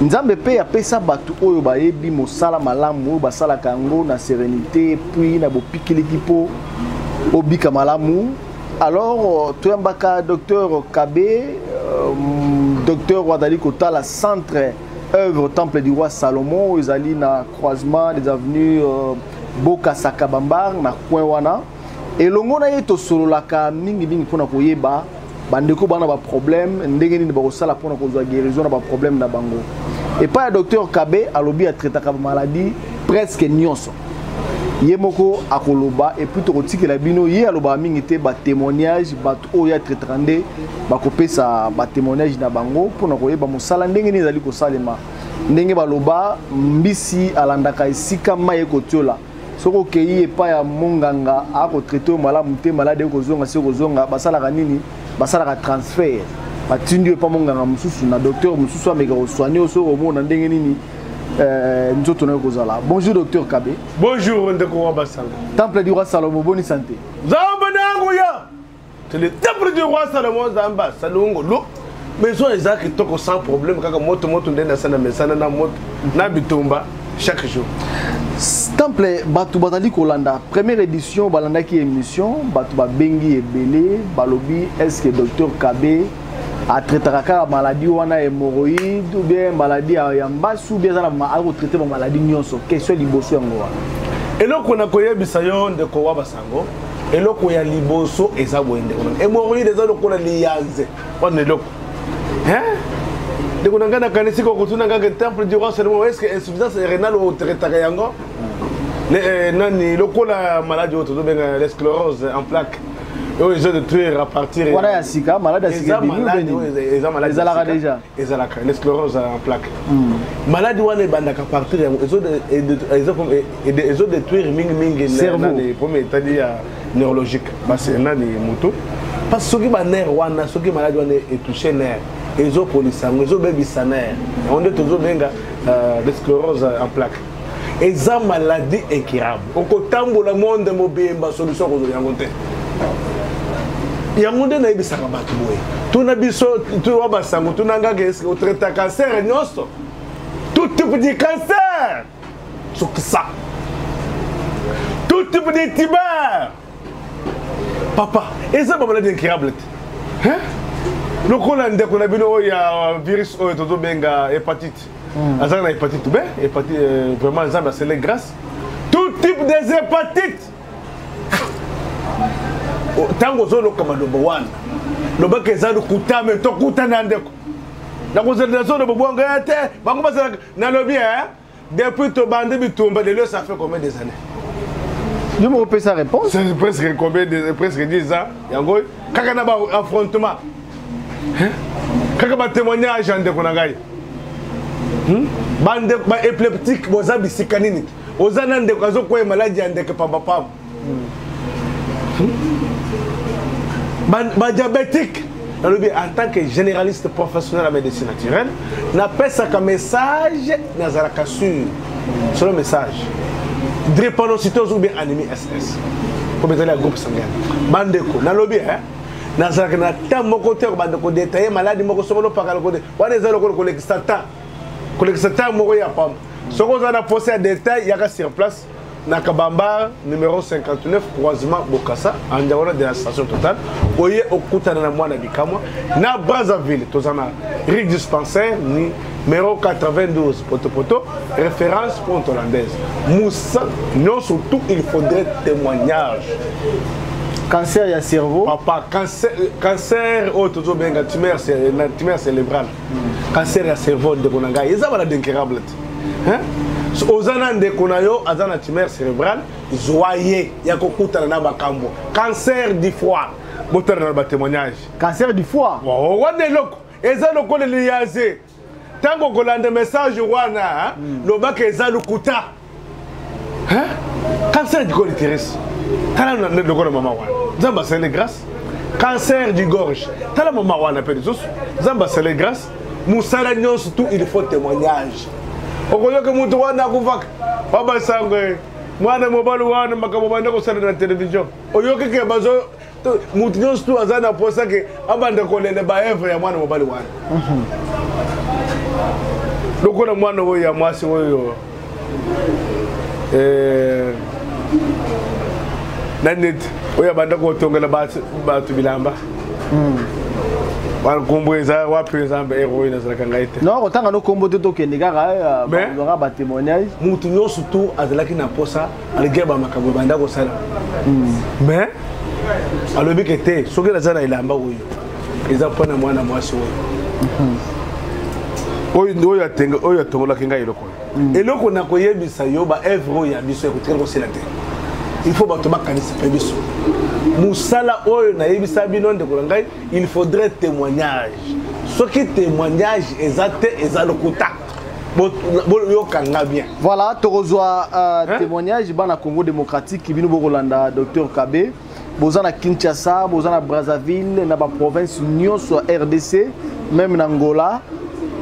nzambe mpe apesa bato oyo bayebi mosala malamu oyo basalaka yango na serenité puis na bopikiliki mpo obika malamu alors euh, toyambaka docteur kabe euh, docteur oyo azali kotala centre œuvre temple du roi salomon oyo ezali na croisement des avenues euh, bokasaka bambar na coin wana elongo na ye tosololaka mingimingi mpo na koyeba bandeko bana baproblème ndenge nini bakosala mpo na kozwa guérison na baproblème na bango epai ya docteur kabe alobi atraitaka bamaladi presque nyonso ye moko akoloba epuis tokotikela bino ye alobaka mingi te batémoignage bato oyo ya traitaka nde bakopesa batémoignage na bango mpo na koyeba mosala ndenge nini ezali kosalema ndenge baloba mbisi alandaka esika mai ekotiola soki okei epai ya monganga akotraite yo malamu te maladi ekozonga se kozonga basalaka nini basalaka transfert batindi yo epai monganga mosusu na docteur mosusu ameka kosoigne yo soki omona ndenge nini euh, nzoto nayo kozala bonjour docteur kabe bonjour ndeko wa basango temple du roi salomo boni sante nzambe na yango ya C'est le temple du roi Salomon Zamba, Salongo, l'eau. Maison eza kitoko sans problème kaka moto moto nde nasala mesana na moto na bitumba chaque jour. Temple bato bazali kolanda première édition balandaki émission bato babengi ebele balobi est ce que docteur Kabe atraitaka kaka maladie wana hémorroïde ou bien maladie ya mbasi ou bien aza na akotraite bamaladie nyonso question liboso yango wana eloko na koyebisa yo ndeko wa basala yango eloko ya liboso eza boye ndeko na hémorroïde eza lokola liyanze wana eloko ndeko na ngai nakanisi kokotuna kaka temple du roi seulement est ce que insuffisance rénale otraitaka yango eh, nani lokola maladi oyo tozobenga l'esclorose en plaque oyo ezo de tuer à partir wana ya sika maladi ya sika eza maladi ezalaka déjà ezalaka les sclérose en plaque hmm. maladi wana ebandaka partir yango ezo détruire mingi mingi premier etadi ya neurologique basi nani moto parce que soki banere wana soki maladi wana etouche nere ezopolisa yango ezobebisa nere yango nde tozobenga euh, les sclérose en plaque eza maladie incurable okotambola monde mobimba solution kozwa yango te yango nde nayebisaka bato boye tuna biso towa basango tuna ngaka eske otraita cancer nyonso tout type de cancer sokisa tout type de tiber papa eza bamaladi incurable te lokola ndeko na bino oyo ya virus oyo tozobenga hepatite hmm. azalaka na hepatite b hepatite euh, vraiment nzambe asele grâce tout type des hepatites ntango oh, ozoloka maloba wana lobaka eza lokuta me tokutana ndeko nakozela nazoloba bobwanga te bango bazalaka nalobi e eh? Depuis tobandi bitumba de ça fait combien des années yo moko pesa réponse c'est presque combien de presque 10 ans yango kaka na ba affrontement hein? kaka ba témoignage ya ndeko na ngai hmm? ba ndeko ba épileptique boza bisika nini oza na ndeko azokweye maladi ya ndeke pambapamba badiabétique hmm? nalobi en tant que généraliste professionnel ya médecine naturelle napesaka message nazalaka sur solo message drépanocytose ou bien anémie ss mpo bezali ya groupe sanguin bandeko nalobi eh? nazalaka na temps moko te kobanda kodetaille maladi moko soko lopakala kode wana eza lokola kolekisa temps kolekisa temps moko ya pamba soki oza na posa ya detail yaka sur place na kabamba numero 59 croisement bokasa andiawana de la station totale oye okutana na mwana bikamwa na brazzaville toza na rue dispensaire ni numero 92 potopoto référence ponte hollandaise moussa non surtout il faudrait témoignage cancer ya cerveau papa cancer, cancer oyo tozobenga tumeur cérébrale cancer ya cerveau ndeko na ngai eza bana d'incurable te oza na ndeko na yo aza na tumeur cérébral zwa ye ya kokutana na bakambo cancer du foie botala na batémoignage cancer du foie oh, wana eloko eza lokola liyaze ntango okolanda message wana hmm. lobaka eza lokuta hein cancer du col uterus tala na lokola mama wana nzambe asali grâce cancer du gorge tala mama wana mpe lisusu nzambe asali grâce mosala nyonso tout il faut témoignage okoyoka moto wana akufaka babasango mwana mobali wana makambo banda kosala na televizio oyokeke bazo moto nyonso tu aza na mposa ke abanda kolela baevre ya mwana mobali wana mhm. lokola mwana oyo ya mwasi oyo eh, na neti oyo abanda kotongela bato bilamba mhm. nkombo eza wapi eza ero oyo nazalaka ngai te no kotanga no nkombo te tokende kaka eh, batémoignage moto nyonso tu azalaki na mposa malgré bamakambo ebanda kosala hmm. mais alobi ke te soki naza na elamba oyo eza mpo na mwana mwasi oyo hmm. oyo atongolaki ngai eloko oyo hmm. eloko na koyebisa yo baevre oyo ya biso ekotikali kosila te il faut bato bakanisa mpe biso mosala oyo nayebisa bino ndeko na ngai il faudrait témoignage soki témoignage eza te eza lokuta boyoka nga bien voilà tokozwa uh, témoignage bana congo démocratique bino bokolanda docteur kabe boza na kinshasa boza na brazzaville na baprovince nyonso ya rdc même na angola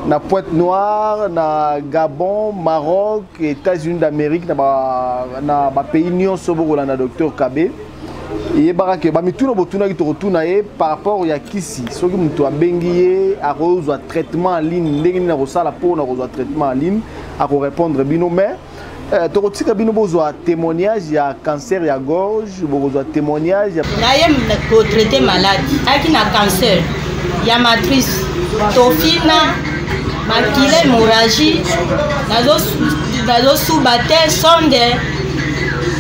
na pointe noire na gabon maroc états-unis d'amérique na bapays ba nyonso bokolanda docteur kabe eyebaka ke bamituna botunaki tokotuna ye par rapport ya kisi soki moto abengi ye akozwa traitement en ligne ndenge nini akosala mpo na kozwa traitement en ligne akorépondre bino mais eh, tokotika bino bozwa témoignage ya cancer ya gorge bokozwa témoignage ya... na ye kotraite malade ayaki na cancer ya matrice tofina makila hémorragie nazosuba te sonde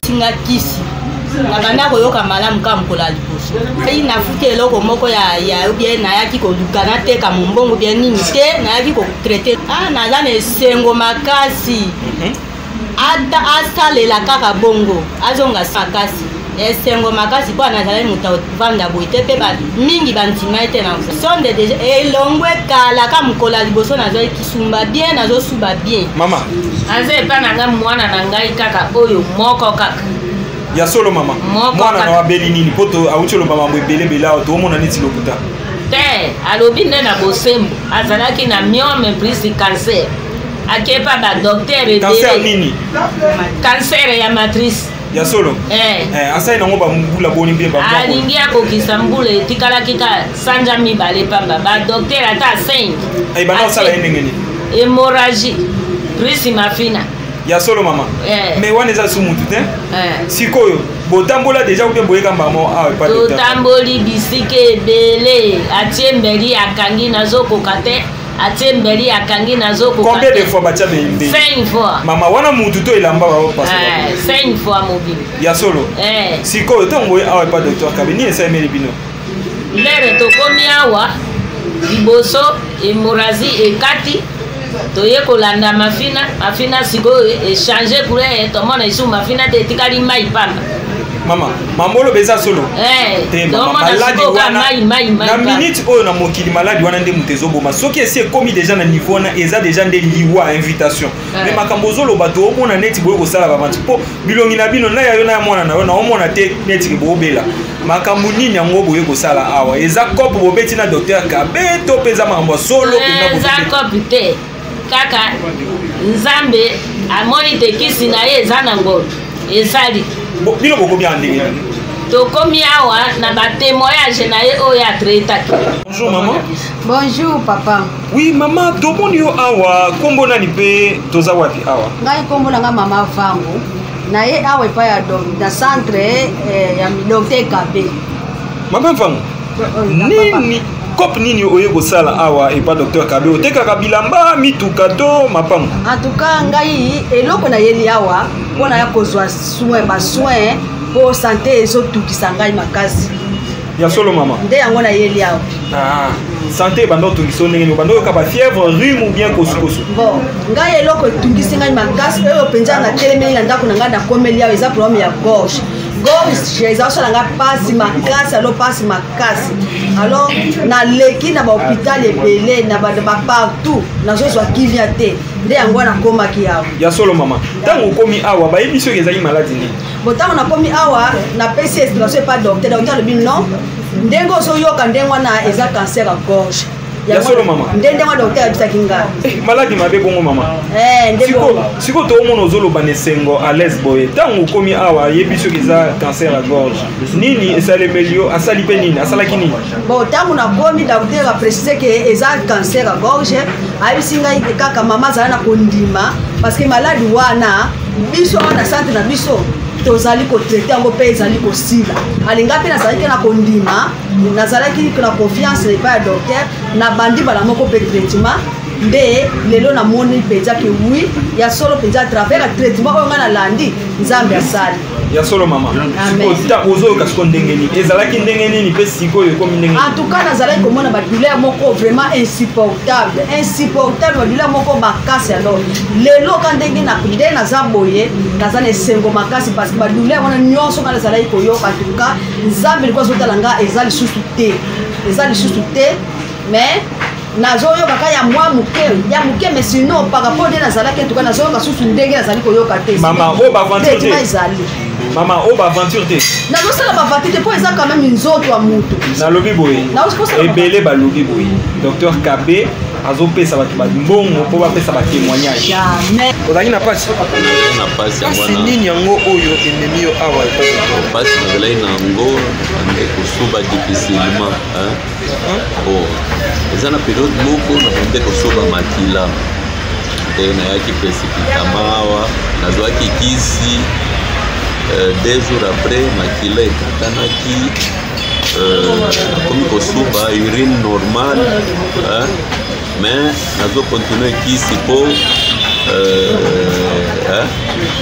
tinga kisi nabanda koyoka malamu kaka mokolo ya liboso ai nafuti eloko moko ya ya obie nayaki koluka nateka mombongo bie nini te nayaki kotraite ah, naza na esengo makasi mhm. asalela kaka bongo azonga makasi esengo makasi mpo nazalaki moto avanda boye te mpe mingi bandima ye te na sonde deja elongwe kala ka mokolo ya liboso nazwaki sumba bien nazosuba bien mama aza epa na ngai mwana na ngai kaka oyo moko kaka ya solo mama mwana na abeli nini mpo auti oloba mambo ebelebele awa toomona neti lokuta te alobi nde na bosembo azalaki na miome plus cancer akepa badoktere ebele nini cancer ya matrice ya solo eh. eh, asali nango bambula boni mpe alingi akokisa mbula etikalaki ka sanja mibale pamba badoktere ata 5 ebanda eh, osala ye ndenge nini hémorragie prisi mafina ya solo mama eh. mais wana eza su mutu te eh. sikoyo botambola deja obe boyeka mbamo awa ah, totamboli bisika ebele atie mbeli akangi nazokoka te atie mbeli akangi nazokoka combien de fois batia mbeli cinq fois mama wana mutu to elamba bao pasi eh, cinq fois mobili ya solo sikoyo ntango boye awa epa docteur kabe nini esalemeli bino lere tokomi awa liboso emborazi ekati toye kolanda mafina mafina sikoyo echange couleur tomona esu mafina te etikali mai pamba mama mambolo beza solo eh, te mama maladi wana na minute oyo na mokili maladi wana nde moto ezoboma soki esi ekomi deja na niveau wana eza deja nde liwa invitation eh. mais makambo ozoloba to omona neti boye kosala bamanti mpo bilongi na bino na yayo na ya mwana na yo na omona te neti bobela makambo nini yango boye kosala awa eza cope bobeti na docteur kabe to mpenza makambo ya solo eh, eza cope te kaka nzambe amoni te kisi na ye eza na ngolo esali bino bokomi awa ndenge nani tokomi awa na batemoyage na ye oyo atretaki bonjour mama bonjour papa oui mama tomoni yo awa nkombo nani mpe toza wapi awa ngai nkombo na ngai mama vango na ye awa epai ya don na centre eh, ya milongo te ekabe mama mfango nini cope nini oye kosala awa epa docteur kabe otekaka bilamba mituka to mapango antuka ngai eloko nayeli awa mpo naya kozwa soin basoin mpo sante ezotukisa ngai makasi ya solo mama nde yango nayeli awa ah, sante ebanda otungisi yo ndenge nini obanda oyoka bafièvre rhume ou bien kosukosu bon ngai eloko etungisi ngai makasi oyo mpenza natelemeli na ndako na ngai nakomeli awa eza problème ya gorge gorge eza kosala ngai mpasi makasi alo mpasi makasi alors naleki na bahopital ebele na bapartout nazozwa kimia te nde yango wana akomaki awa ya solo mama ntango okomi awa bayebi soki ezali maladi nini bo ntango nakomi awa napesi esplation epa docteur docteur alobi non ndenge ozoyoka ndenge wana eza cancer ya gorge ya solo mama nde ndenge wana docteur ayebisaki ngai eh, maladi mabe bongo mama eh, sikoyo toomona ozoloba na esengo à l'aise boye ntango okomi awa ayebi soki eza cancer ya gorge nini esalemeli yo asali mpe nini asalaki nini bon ntango nakomi docteur aprécise ke eza cancer ya gorge ayebisi ngai kaka mama azala na kondima parce que maladi wana biso awa na centre na biso tozali kotraite yango mpe ezali kosila alinga mpe nazalaki na kondima nazalaki na confiance na epai ya docteur nabandi bala moko mpe traitement nde lelo namoni mpenza ke wi ya solo mpenza atravers ya traitement oyo ngai nalandi nzambe asali ya solo mama ozoyoka siko ndenge nini ezalaki ndenge nini mpe sikoyo ekomi ndenge en tout cas nazalaki komona badouleur moko vraiment insupportable insupportable badouleur moko makasi alors lelo ka ndenge na nde naza boye naza na esengo makasi parce que badouleur wana nyonso nga nazalaki koyoka tuka nzambe liko azotala nga eza lisusu te eza lisusu te mais nazoyoka ka ya mwa moke ya moke mais sinon par rapport nde nazalaki tuka nazoyoka susu ndenge nazali koyoka te mama oyo oh, baventure ezali mama oyo oh, baventure te nazosala baventure te mpo eza quand même nzoto ya motu nalobi boye ebele balobi boye docteur kabe azopesa bato mbongo mpo bapesa batémoignage ozalaki na mpasi mpasi nini yango oyo ememi yo awa mpasi nazalaki na yango ande kosoba difficilement eza na periode moko nakonde kosoba makila te nayaki presipitama awa nazwaki kisi euh, deux jours après makila ekatanaki ekomi euh, kosuba urine normal hein? mais nazo continue kisi mpo euh, hein?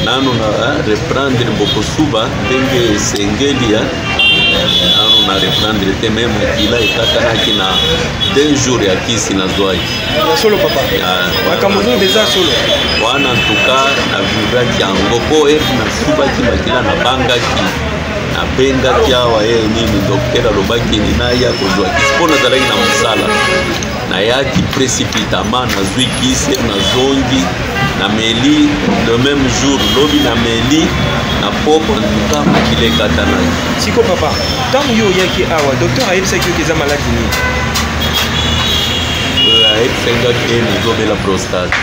nano na hein? reprendre bokosuba ndenge esengeli hein? nano na reprendre te me mokila ekatanaki na deux jours ya kisi nazwaki solo papa makambo ozoyoka eza solo wana ntuka na vivraki yango mpo ete nasubaki makila nabangaki abengaki awa ye nini dokter alobaki nini naya kozwa kisi mpo nazalaki na mosala nayaki précipitamment nazwi kisi nazongi nameli le même jour lobi nameli na poko antuka makila ekatanaki siko papa ntango yo oyaki awa dokter ayebisaki yoki eza maladi nini euh, ayebisaki nga te nazobela prostate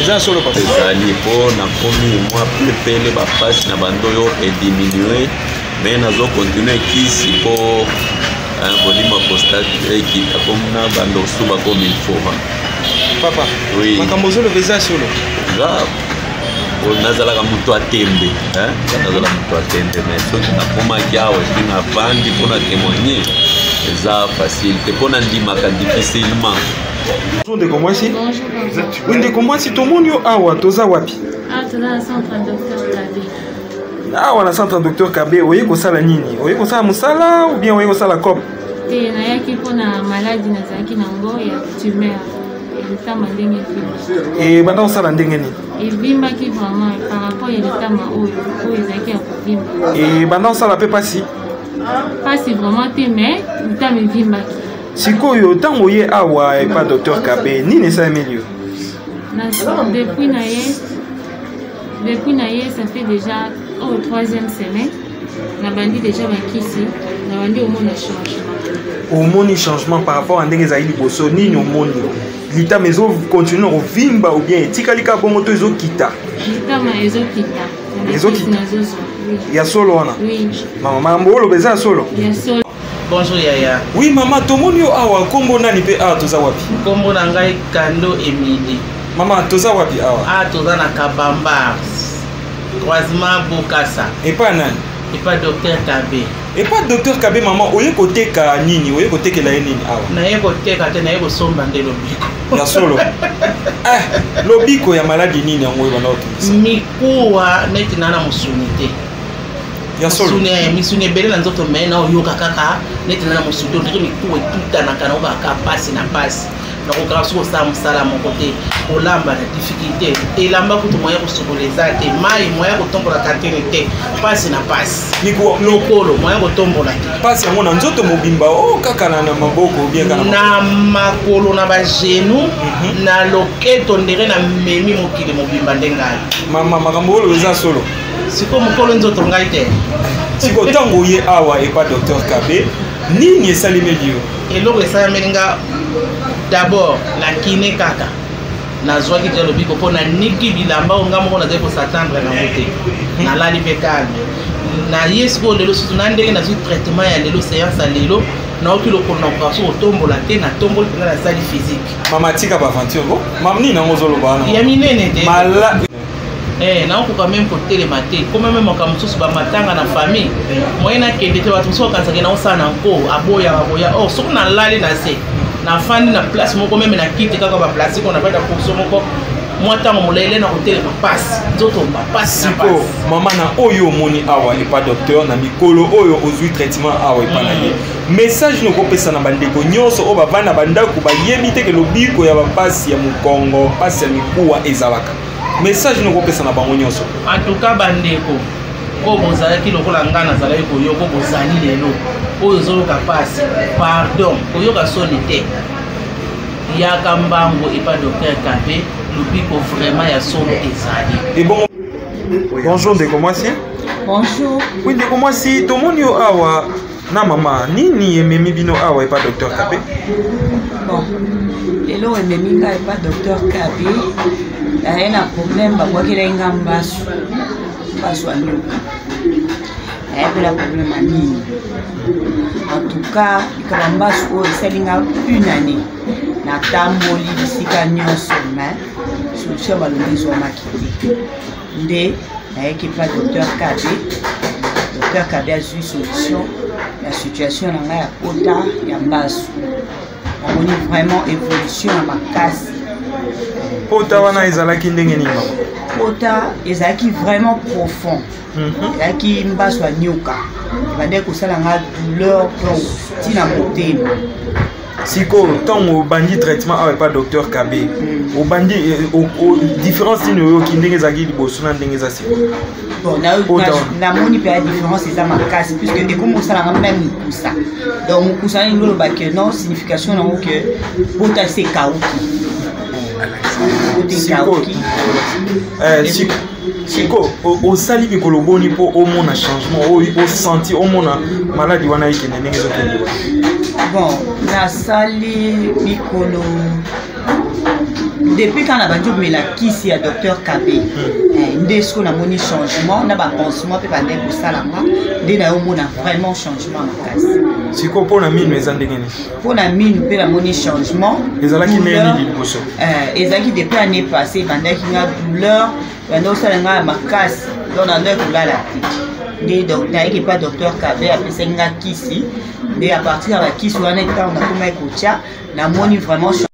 eza solo papa ezali mpo nakomi mwa pepele bapasi na bando oyo ediminue me nazo continue kisi mpo kolima kostate ekita komona bando osu bakomi lfova papa makambo ozoloba eza solo grave nazalaka moto ya tembe nazala moto ya tembe me soki nakomaki awa epi navandi mpo na témoigne eza facile te mpo nandimaka difficilement ndeko mwasi Oui, ndeko mwasi tomoni yo awa toza wapi ah, awa na centre docteur kabe oye kosala nini oye kosala mosala ou bien oye kosala cop te nayaki mpona maladi nazalaki na yango ya tumeur litama ndenge eh, ebanda kosala ndenge nini evimbaki vraiment par rapport ya litama oyo oyo ezalaki ya kovimba ebanda eh, kosala mpe mpasi mpasi vraiment te mais litama evimbaki sikoyo ntango oye awa epa docteur kabe nini esalemeli yo depuis na ye depuis na ye ça fait déjà au oh, troisième semaine nabandi déjà bakisi nabandi omona changement omoni changement par rapport à ndenge ezali liboso nini omoni litama ezocontinue kovimba ou bien etikali kaka bongo to ezokita litama ezokita ezokita ya solo wana mama mambo oloba eza ya solo Bonjour yaya. Oui mama tomoni yo awa nkombo nani mpe awa toza wapi? Nkombo na ngai Kando Emile. Mama toza wapi awa? Ah toza na Kabamba. Croisement Bokasa. Epa nani? Epa docteur Kabe. Epa docteur Kabe mama oye koteka nini? Oye kotekela ye nini awa? Naye koteka te naye kosomba nde lobiko. Ya solo. eh, lobiko ya maladi nini yango ebanda otungisa? Mikuwa neti nana musuni te. ya solo misuni ebele na nzoto me na oyoka kaka neti na na mosuki ondiri mikuwa etutanaka na obaka mpasi na mpasi nakokaka soki osala mosala moko te kolamba na difficulté elamba kutu moya kosokola eza te mai moya kotombola katene te mpasi na mpasi lokolo moya kotombola te mpasi yango na nzoto mobimba o oh, kaka na maboko na makolo na bagenu mhm. na loketo ndenge na memi mokili mobimba nde ngai mama makambo oyo eza solo siko mokolo nzoto ngai te siko ntango oye awa epa docteur kabe nini esalemeli yo eloko esalemeli nga d'abord na kine kaka nazwaki deja lobiko mpo naniki bilamba oyo nga moko nazali kosatandre nango te nalali mpe kalme naye sikoyo lelo susu na ndenge nazwi traitement ya lelo seance ya lelo naoki lokolo na koka so kotombola te natomboli mpenza nasali physique mama tika baaventure ko mamnini yango ozoloba ya minene te Eh, nakokoka meme kotelema te koma meme makambo mosusu bamatanga na famille moye nakende te bato mosusu bakanisaka naosala na nko aboyaka koya or oh, soki nalali na se nafandi na place moko meme na kiti kaka baplastike ona bada kurso moko mwa ntango molele na kotelema mpasi nzoto mpasi siko mama na oyo omoni awa epa docteur na mikolo oyo ozwi traitement awa epa na ye mm. message nini okopesa na bandeko nyonso oyo bavandi na bandako bayebi te ke lobiko ya bampasi ya mokongo mpasi ya mikuwa ezalaka message nini okopesa na bango nyonso antuka bandeko oyo bozalaki lokola ngai nazalaki koyoka bozali lelo oyo ozoyoka mpasi pardon koyoka soni te yaka mbango epa docteur kape lobiko vraiment ya solo ezali bonjour ndeko mwasi bonjour oui ndeko mwasi tomoni yo awa na mama nini ememi bino awa epa docteur kabe bon eloko ememi ngai epa docteur kabe naye na problème babwakelaki nga mbasu mbasu ya nyoka nayebela problème ya nini en tout cas likaba mbasu oyo esali nga une année natamboli bisika nyonso mais solution balongi ezwamaki te nde nayaki epa docteur kabe docteur kabe azwi solution ya situation na ngai ya kota ya mbasu namoni vraiment évolution ya makasi pota wana ezalaki ndenge nini mama pota ezalaki vraiment profond mhm. ezalaki mm -hmm. mbaso ya nyoka ebandaki kosala nga douleur donc ntina motema sikoyo ntango obandi traitement awa epa docteur kabe hmm. obandi eh, différence nini oyoki ndenge ezalaki liboso na ndenge eza sikoyo namoni mpe ya différence eza makasi puisque ekomi osalanga mpe mikusa donc mokusa nini loloba ke non signification nango ke poto ese ekauki poto ekauki siko osali mikolo boni mpo omona changement oyo osanti omona maladi wana ekende ndenge ezokende bon nasali mikolo depuis quand nabandi komela kisi ya docteur kabe hmm. eh, nde soki namoni changement na bapansement mpe bandai kosalanga nde nayo omona vraiment changement makasi sikoyo mpo na mino eza ndenge nini mpo na minu mpe namoni changement ezalaki ndenge liboso eh, ezalaki depuis année passé ebandaki nga douleur banda osala nga ya makasi donc na ndoi kolala te nde nayaki epa docteur kabe apesaki nga kisi nde a partir ya bakisi wana ntango nakomaki kotya namoni vraiment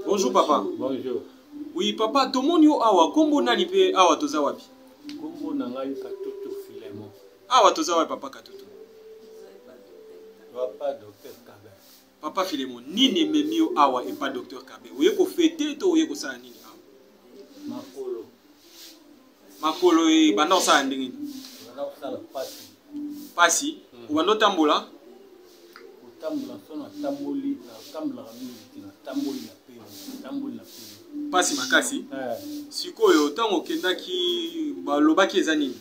bonjour papa bonjour oui papa tomoni yo awa nkombo nani mpe awa toza wapi nkombo na ngai katutu filemon awa toza wapi papa katutu papa docteur kabe papa filemo nini ememi yo awa epa docteur kabe oye kofete to oye kosala nini awa makolo makolo ebanda kosala ndenge nini pasi obanda otambola kotambola so natamboli natambolaka mingi te natamboli na pema natamboli na pema mpasi makasi eh. sikoyo ntango okendaki balobaki eza nini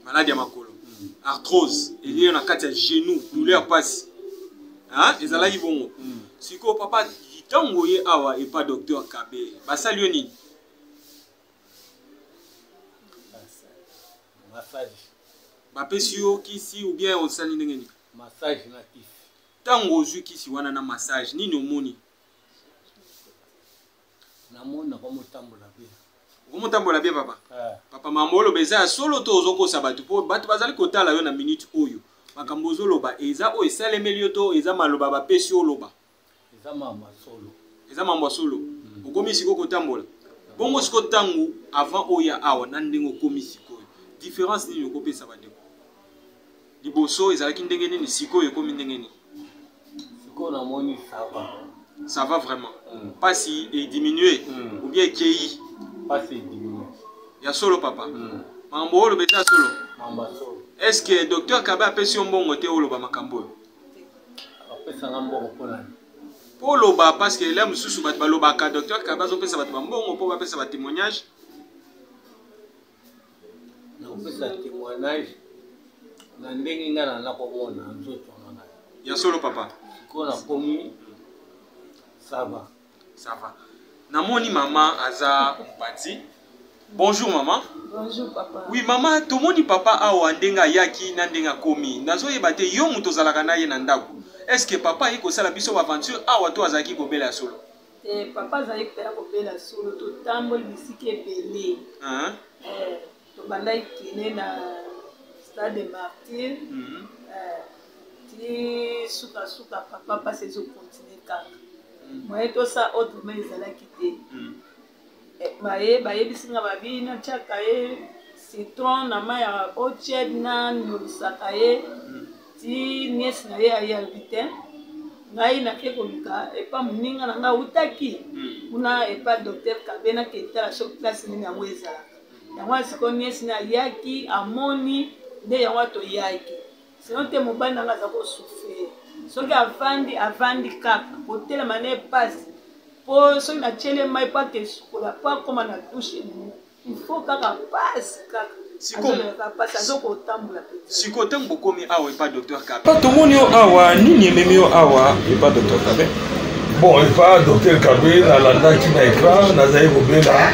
maladi ya makolo hmm. arthrose eliyo na kati ya genou douleur ya mpasi ezalaki bongo hmm. sikoyo papa ntango oye awa epa docteur kabe basali yo nini massage bapesi yo kisi ou bien osali ndenge nini massage na kisi ntango ozwi kisi wana na massage nini omoni namona komotambola be okomotambola be papa eh. papa mama oloba eza ya solo to ozokosa bato mpo bato bazali kotala yo na minute oyo makambo ozoloba eza oyo esalemeli yo to eza maloba bapesi oloba eza mambo ya solo eza mambo ya solo mm. okomi sikoyo kotambola bongo sikoyo ntango avant oya awa na ndenge okomi sikoyo différence nini okopesa bandeko Liboso ezalaki ndenge nini sikoyo ekomi ndenge nini? Sikoyo namoni ça va. Ça va vraiment. Mm. Pasi e diminuer mm. ou bien ekei? Pasi e diminuer. Ya solo papa. Mm. Mambo oyo lobe ta solo. Mambo solo. Est-ce que docteur Kabe apesi yo mbongo te oloba makambo oyo? Apesa nga mbongo mpo na mpo oloba parce que la mosusu bato balobaka docteur Kabe azopesa bato bambongo mpo bapesa ba témoignage nakopesa témoignage na ndenge ngai na nakomona nzoto na ngai ya solo papa sikoyo nakomi sava sava namoni mama aza mpati bonjour mama bonjour papa oui mama tomoni papa awa ndenge ayaki na ndenge akomi nazoyeba te yo moto ozalaka na ye na ndako est ce que papa aye kosala biso baaventure awa to azalaki kobela ya solo te papa azali mpe ya kobela solo totamboli bisika ebele eh, tobandaki kine na stade de martyr mhm. eh, ti sukasuka papa mpasi ezokontinue kaka moye mhm. tosa autrement ezalaki te mhm. baye bayebisi nga babi natyaka ye citron na mai ya oched na nolisaka ye hmm. ti niesi na ye aye alobi te ngai nake koluka epa moninga na ngai awutaki hmm. kuna epa docteur kabe naketala soki place nini yango ezalaka yango asiko niesi na ayaki amoni nde yango atoyaki sinon te mobali nanga aza kosufrire soki avandi avandi kaka kotelema na epasi mpo soki natyele mai mpo ake esukola mpo akoma na dushe ifo kaka pasi kaka sikoyo ntango bokomi awa epa docteur kabe tomoni yo awa nini ememi yo awa epa docteur kabe bon epa docteur kabe nalandaki na ekran nazali kobela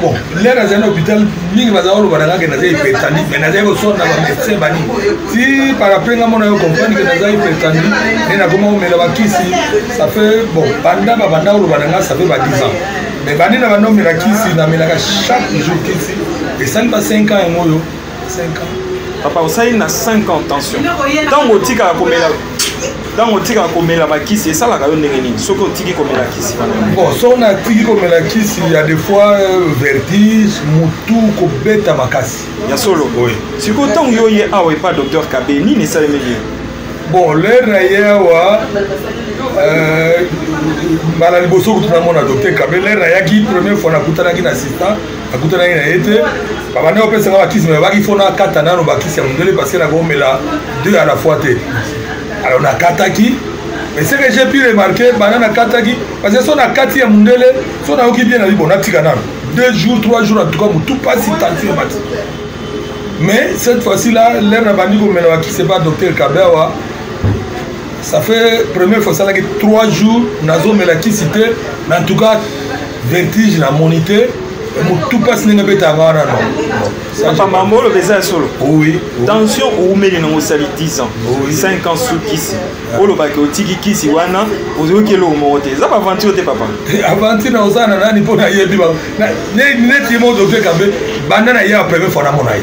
bon nde nazali na hôpital mingi baza koloba na ngake naza hypertandi mai nazali kosona na bamédecin bani ti paraprenga mona yo comprendre ke naza hypertandi nde nakoma komela bakisi ça fait bon banda babanda koloba na nga ça fait ba 10 ans mais bandi na banda omela kisi namelaka chaque jour kisi esali ba 5 ans yango oyo papa osali na 5 ans tension ntango otikaka komela ntango otikaka komela bakisi esalaka yo ndenge nini soki otiki komela kisi bon soki natiki komela kisi ya des fois euh, vertige motu kobeta makasi ya solo sikoyo ntango yo ye awa epa docteur kabe nini esalemi bien bon lere na ye awa euh, mbala liboso kutu namona docteur kabe lere nayaki première fois nakutanaki na assistant nakutanaki na ye te babandi kopesaka bakisi me abaki fo nakata nano bakisi ya mondele parce que nakomela deux à la fois te alors nakataki mais ce que j'ai pu remarquer banda nakataki parce que so nakati ya mondele so nayoki bien nabi bon natika nano deux jours trois jours en tout cas motu mpasi tension emati mais cette fois-ci là lere nabandi komela bakisi epa docteur kabewa ça fait première fois esalaki trois jours nazomela kisi te mais en tout cas vertige na moni te motu mpasi ndenge abetaka wana nopapa mambo oloba eza ya solo tension oumeli nango osali 10 ans 5 ans su kisi olobaki otiki kisi wana oyoki eloko moko te eza baaventure te papa eh, aventure na oza na nani mpo nayebi neti ye moko dokte kambe banda na ye ya premier fana mona ye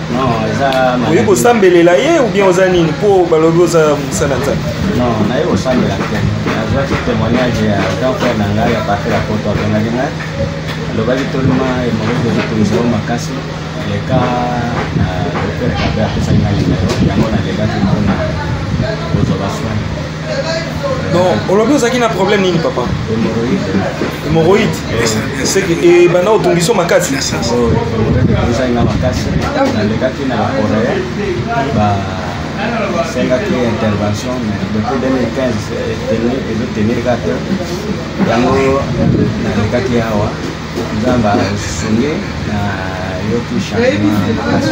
oye kosambelela ye ou bien oza nini mpo balobi oza mosala nzambe non naye kosambela te nazwaki témoignage ya grand frère na ngai ya partir ya poto abengaki ngai alobaki tolima emolodi ezotungisa yo makasi leka na docteur kabe apesaki ngai yango nalekaki mpona kozwa baswani non olobi ozalaki na problème nini papa hémorroïde seke ebanda otungiso makasi ezali na makasi nalekaki na korea basengaki intervention depuis 2015 ezotenir ka te yango nalekaki awa nzambe asungi na yoki changement makasi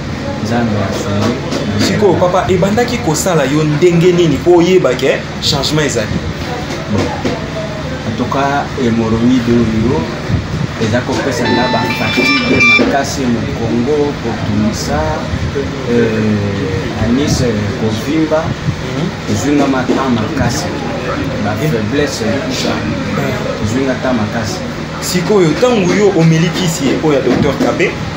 nzambe asungi sikoyo papa ebandaki kosala yo ndenge nini mpo oyeba ke changement ezali antuka hemoroïde oyo eza kopesa nga bafatigue makasi mokongo kotungisa euh, anis euh, kovimba mhm. ezwi nga mata makasi bafaiblesse kusa ezwi nga ta makasi sikoyo ntango yo omelikisi ye oyo ya docteur kabe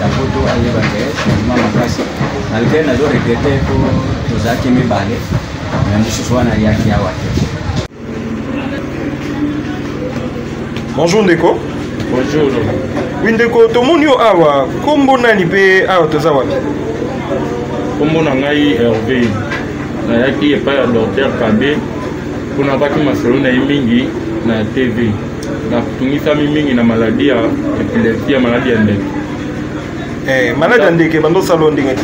ya poto ayeba ke changement makasi malgre nazo regrete po tozalaki mibale me mosusu wana ayaki awa te bonjour ndeko bonjour wi ndeko tomoni yo awa nkombo nani mpe awa toza wapi nkombo na ngai herve nayaki epai ya docteur kabe mpo nabaki masolo na ye mingi na tv natungisami mingi na maladi ya epilepsi ya maladi ya ndeke eh, maladi ya ndeke bandosala yo ndenge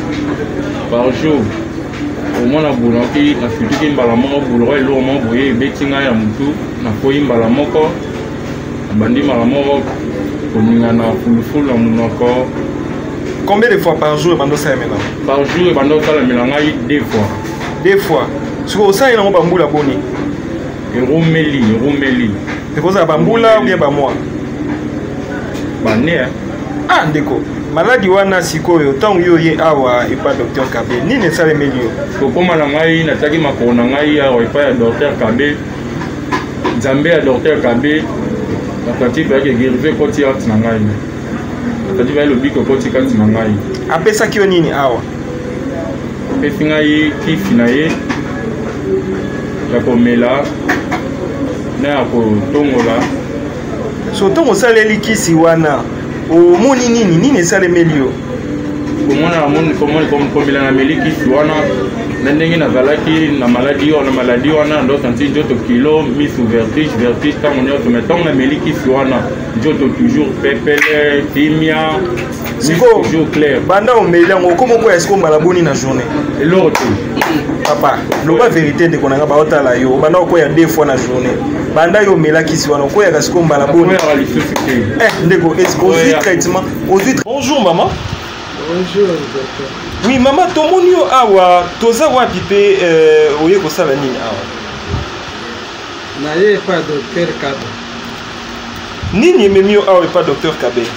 par jour omona bulaki nasutuki mbala moko bulaka eloko moko boye ebeti ngai ya motu nakwei mbala moko nabandi mbala moko koningana fulufulu na monoko combien de fois par jour ebanda osalamela par jour ebanda osalamela ngai deux fois deux fois sikoyo osaleli yango bambula boni erumeli erumeli ekozala bambula ou bien bamwa bane eh. ah ndeko maladi wana sikoyo ntango yo oye awa epai docteur kabe nini esalemeli yo kokóma na ngai nataki makolo na ngai awa epai ya docteur kabe nzambe ya docteur kabe bakwati bayaki egerive ekoti kati na ngai bakwati baye lobiko ekoti kati na ngai apesaki yo nini awa apesi ngai kisi na ye ya komela na ya kotongola so ntango osaleli kisi wana omoni nini nini esalemeli yo komona komela na meli kisi wana na ndenge nazalaki na maladi wana maladi wana ndosanti njoto kilo misu vertige vertige ntango nyonso mai ntango na meli kisi wana njoto toujours pepele kimia sikoyo banda omeli yango okoma okoya sikoyo mbala boni na journée eloko te papa loba verité ndeko na ngai baotala yo obanda okoya deux fois na journée banda yo omelakisi wana okoyaka sikoyo mbala boni eh, ndeko ozwi traitement ozwi bonjour maman bonjour docteur oui mama tomoni yo awa toza wapi mpe euh, oye kosala nini awa naye epa docteur kaba nini ememi yo awa epa docteur kabele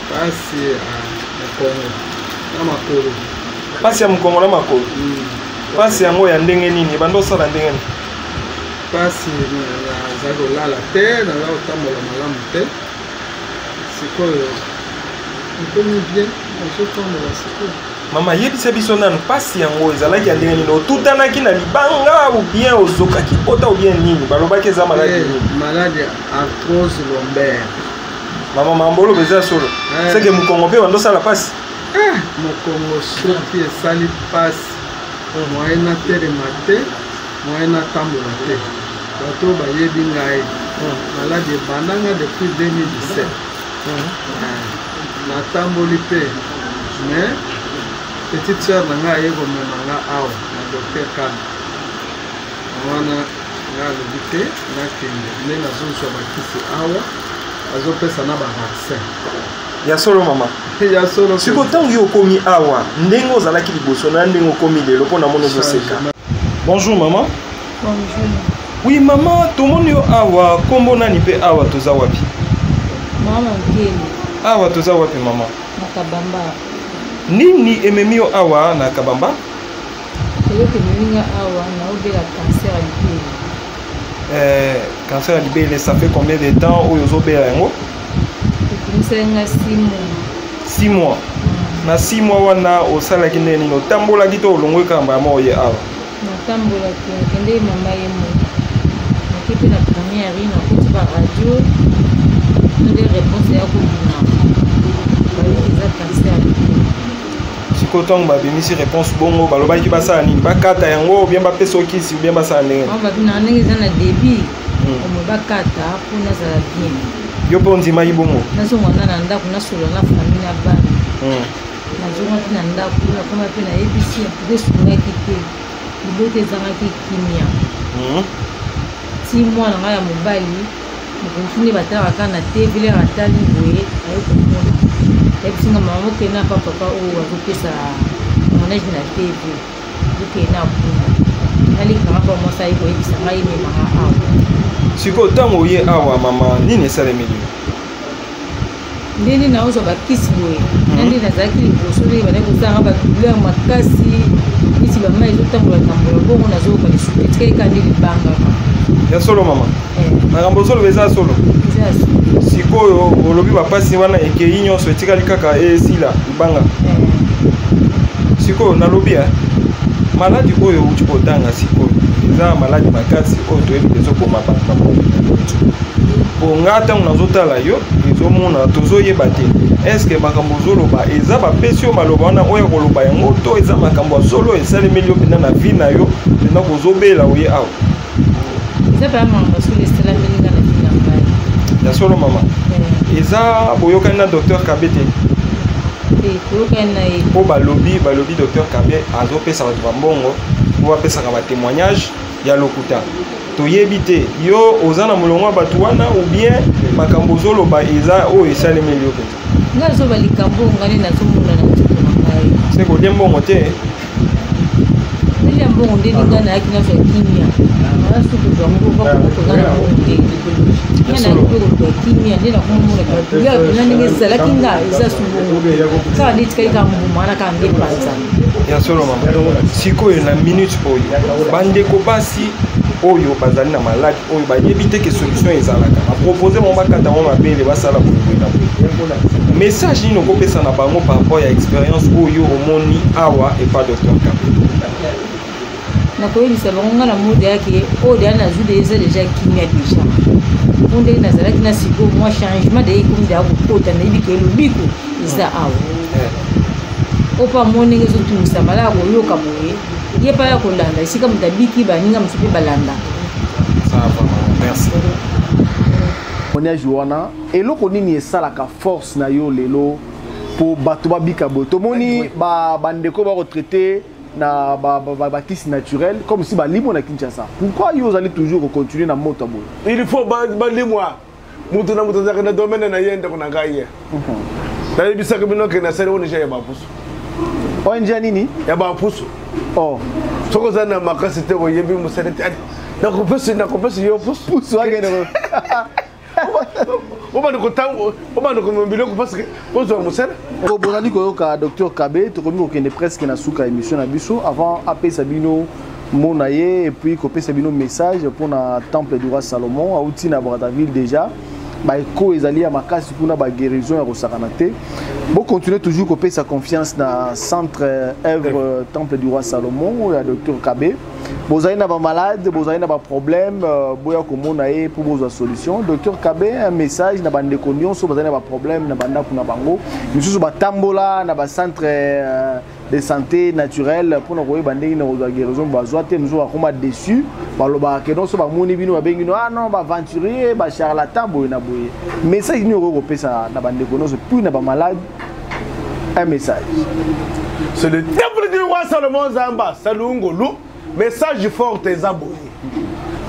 pasi ya mokongo na makolo pasi ya mokongo na makolo pasi yango ya ndenge nini ebanda osala ndenge nini pasi nazali kolala te nazali kotambola malamu te sikoyo ekomi bien nazotambola sikoyo mama yebisa biso nanu mpasi yango ezalaki ya ndenge nini otutanaki na libanga obien ozokaki pota obien nini balobaki eza maladi eh, nini maladi ya artrose lombaire mama mamboloba eza solo eh. seke mokongo mpe bando osala mpasi eh, mokongo soki esali mpasi moye natelema te moye natambola te bato bayebi ngai maladi ebandanga depuis 2017 natamboli mpe mais petite sœur na ngai aye komema nga awa na docteur kani wana nga alobi te nakende nde nazozwa bakisi awa azopesa na bavaccin ya solo mama ya solo siko ntango yo okomi awa ndenge ozalaki liboso na ndenge okomi lelo mpo namoni ozoseka bonjour mama Oui maman, tomoni yo awa, kombo nani pe awa toza wapi? Maman Nkele. Awa toza wapi maman? Na Kabamba. Nini ememi yo awa na Kabamba? Eloko ememi nga awa na obela cancer ya libele. Eh, cancer ya libele, ça fait combien de temps oyo ozobela yango? Ekomisaki nga 6 mois. 6 mois. Mm. Na 6 mois wana osalaki nini? Otambolaki to olongwe kamba moko ye awa? natambolaki nakendeki mama ye moko nake mpe na première nakuti baradio nde réponse ya kobima bayoki eza cancer sikoyo ntango babimisi réponse bongo balobaki basala nini bakata yango obien bapesa okisi obien basala ndenge babina ndenge eza na débit hmm. omo bakata mpo nazala bien yo mpe ondimaki bongo nazongwana na ndako nasolola na famille na bana hmm. nazongaki na ndako na koma mpe nayebisi ya mpe esungaki te libota ezangaki kimia mhm. ti mwana ngai ya mobali mokonzi nde batalaka kaka na te vile atali boye aye komona ayebisi nga mama okende na pa papa oyo azopesa monage na tv okende na kuna nalikaka mpo mwasi aye koyebisa ngai memaka awa sikoyo ntango oye awa mama nini esalemeli ndenge naozwa bakisi boye mhm. na nde nazalaki liboso ndenge bandaki kosala nga badouleur makasi neti bama ezotambola tambola bongo nazoyoka lisusu etikaki ka nde libangaka ya solo mama eh. makambo ozoloba eza solo sikoyo olobi bapasi wana ekei nyonso etikali kaka esila banga sikoyo nalobi ya maladi oyo outi kotanga sikoyo eza maladi makasi oyo toyebi ezoboma bato na moto mpo nga ntango nazotala yo ezomona tozoyeba te eske makambo ozoloba eza bapesi yo maloba wana oyo koloba yango to eza makambo ya solo esalemeli yo mpenza na vi na yo mpenza kozobela oye awa eza baya makambo soki esalami nga na bina ngai ya solo mama eh. eza boyokani na docteur kabe te koyokani na ye mpo balobi balobi docteur kabe azopesa bato bambongo mpo bapesaka batémoignage ya lokuta toyebi te yo oza na molongo ya bato wana ou bien makambo ozoloba eza oyo esalemeli yo mpenza nga zoba likambo oyo ngai nde nazomona na nzoto na ngai se kolie mbongo te nalia mbongo nde linga nayaki nazwa kimia nasukozwa yango bakokotonga na mbongo te nga nayaki mpe kozwa kimia nde nakomona baduya na ndenge ezalaki nga eza sumbongo kaka nde etikali kaka mbuma wana kaka nde panza ya solo mama sikoyo na minute oyo bandeko basi oyo bazali na maladi oyo bayebi te ke solution ezalaka bapropose bango bakata yango mabele basala boye na boye message nini okopesa na bango par rapport ya expérience oyo omoni awa epa docteur kabe nakoyebisa bango ngai na mode yake oyo deya nazwi de eza deja kimia deja mpo ndenge nazalaki na sikoyo mwa changement de ekomi deya kokota nayebi ke lobiko eza awa opo amoni ndenge ezotungisa malaya koyoka boye ye mpe aya kolanda esika moto abiki baninga mosusu mpe balanda moniage wana eloko nini esalaka force na yo lelo mpo bato babika boye tomoni bandeko ba bakotraite na bakisi naturel comme si balimwa na kinshasa pourquoi yo ozali toujours kocontinue na moto boye il faut balimwa moto na moto azalaka na domaine na ye ndeko na ngai ye mhm. nayebisaki bino ke nasali ong ya bapusu ong ya nini ya bapusu oh. soki oza na makasi te oyebi mosali te nakopesi nakopesi yo pusu akende obanda komema biloko parceke ozwa mosala bozali koyoka docteur kabe tokomi kokende presque na suka émission na biso avant apesa bino mona ye epuis kopesa bino message mpo na temple du roi salomon auti na brazzaville déjà baeko ezali ya makasi kuna baguérison ya kosakana te bocontinue toujours kopesa confiance na centre œuvre temple du roi salomon oyo ya docteur kabe bozali na bamalade bozali na baproblème euh, boya komona ye mpo bozwa solution docteur kabe un message na bandeko nyonso bazali na baproblème na bandako na bango misusu batambola na bacentre euh, de santé naturelle mpo na koyeba ndenge na kozwa guérison bazwa te mosusu bakoma déçu balobaka ke nonso bamoni bino babengi no ah non baaventurier bacharlatan boye na boye message nini okoki kopesa na bandeko nyonso puis na bamalade un message c'est le temple du roi salomon zamba salungolu message forte eza boye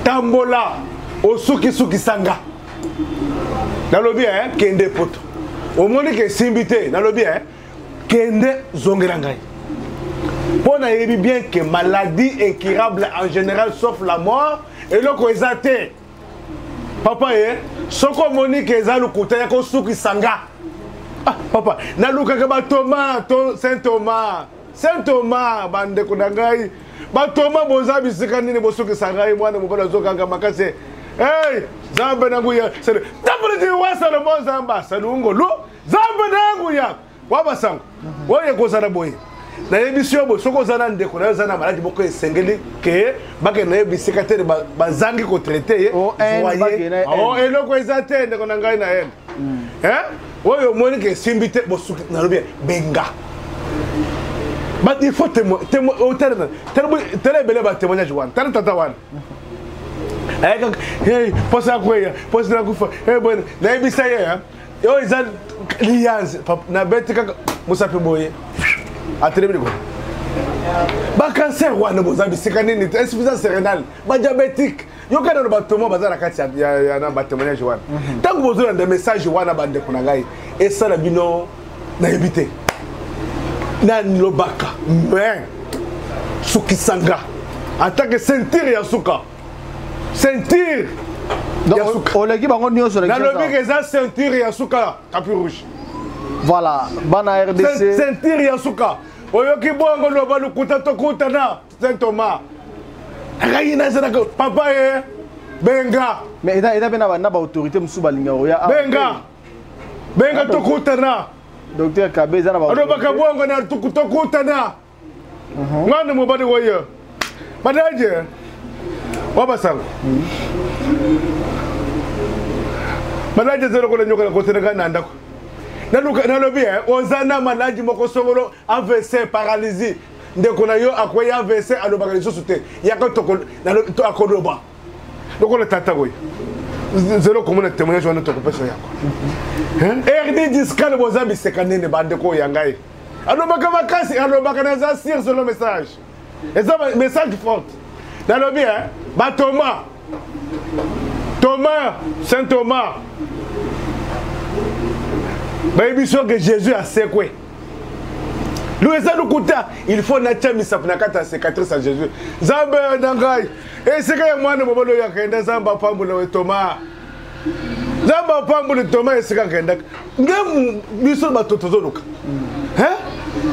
tambola osukisukisa nga nalobi eh, kende poto omoni ke esimbi te nalobi eh, kende zongela ngai mpo nayebi bien que maladie incurable en général sauf la mort eloko eza te papa ye eh, soki omoni ke eza lokuta ya kosukisa nga ah, papa nalukaka batoma to saint thomas saint thomas bandeko na ngai batoma boza bisika nini bosukisa ngai mwana mobali azokanga makasi hey, zambe na nguya tamboliti wa salomo zamba salungolu zambe na yango ya wa basango mhm. oyo ekozala boye nayebisi yo boye soki oza na ndeko nayo oza na maladi moko esengeli ke bakende naye bisika te bazangi kotraite ye oh, oh, eloko eza te ndeko na ngai na ene hmm. oyo omoni ke esimbi te bosuki nalobi benga il faut oh, tala ebele batémoignage wana tala tata wana ayaka posa ya kweya posa na kufa eh, nayebisa ye yo eza liyanze na beti kaka mosapi boye atelemi likola bacancer wana boza bisika nini te insuffisance sérénale badiabétique yoka nano bato mo baza na kati na batémoignage wana mhm. ntango bozolanda message wana bandeko na ngai esala bino nayebi te nalobaka mais sukisanga atake sentire ya suka ceinture oleki bango nyonso nalobi ke eza ceinture ya suka tapi rouge voilà bana rdc ceinture ya suka oyoki bongo loba lokuta tokutana saint thomas ngai nazalaka papa ye eh, benga mais eza eza mpe na baautorité mosusu balingaka oya ah, benga benga tokutana docteur kabe eza na alobaka bongo na tokutana nga nde mobali oye badaje wa basala badaje eza lokola nyoka na kotela ngai na ndako nalobi eh, oza na maladi moko songolo avc paralysie ndeko na yo akwei avc alobaka lisusu te yaka akoloba lokola tata oyo zelo komona témoignage wana tokopesa yango erdi discale boza biseka nini bandeko oyo ya ngai alobaka makasi alobaka naza sur solo message eza message forte nalobi e eh, batoma thomas saint thomas bayebi so ke jésus asekwe lo eza lokuta il faut natya misapo na kati ya cicatrice ya jésus nzambe na ngai esika ya mwana mobali oyo akenda nzambe apambola we thomas nzambe apamboli toma esika akendaka nde biso bato tozoluka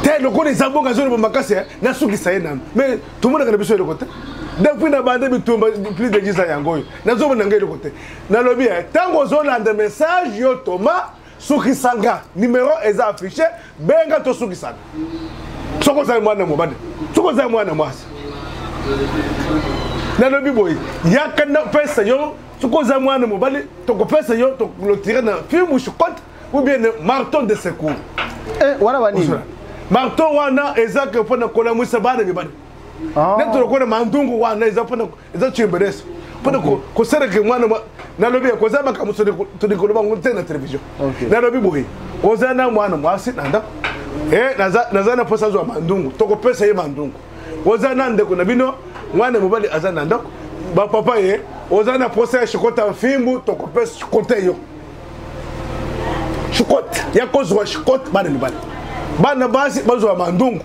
te lokola eza bongo azoloba makasi eh, nasukisa ye nano mais tomonaka na biso eloko te depuis na bande bitumba plus de 10 ans yango oyo nazomona ngai eloko te nalobi ntango eh, ozolanda message yo toma sukisa nga numero eza affiche benga tosukisana soki ozali mwana mobali soki ozali mwana mwasi nalobi boye yaka napesa yo soki oza mwana mobali tokopesa yo toklotire na fimushu cote ou bien marton de secours eh, wana banini marton wana ezaka mpo na kolamwisa bana mibali ah. neti lokola mandungu wana eza mpona eza chimberese mpona kosalaka mwana nalobi ekoza makambo toli koloba ngo te na télévision nalobi boye oza na mwana mwasi na ndako eh, naza na mposa azwa mandungu tokopesa ye mandungu oza na ndeko na bino mwana mobali aza na ndako bapapa ye oza na mposa ya shikota mfimbu tokopesa shikota yo shikota ya kozwa shikota bana mibali bana basi bazwa mandungu